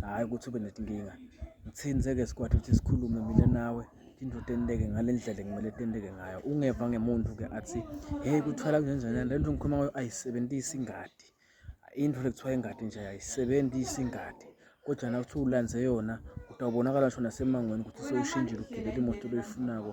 hhayi ukuthi ube nezinkinga ngithini seke sikwatha ukuthi sikhulume mina nawe indoda enteke ngale ndlela ekumele tenteke ngayo ungeva ngemuntu-ke athi heyi kuthwala kunjenjani le nto ngikhuluma ngayo ayisebenzisi ingadi into le kuthiwa ingadi nje ayisebenzisi ingadi kodwa na kuthiwa ulanze yona kutawubonakala ngisho nasemangweni ukuthi sewushintshile ugibela imoto loyifunako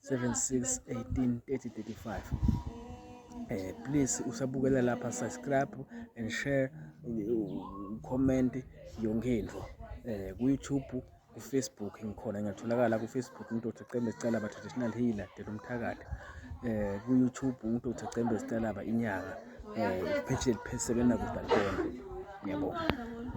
76 18 30 35 eh please usabukela lapha subscribe and share comment yonke into eh ku YouTube ku Facebook ngikhona ngatholakala ku Facebook indoda ecembe sicela ba traditional healer dela umthakathi eh ku YouTube indoda ecembe sicela ba inyanga eh page elipheseke nakudalibona ngiyabonga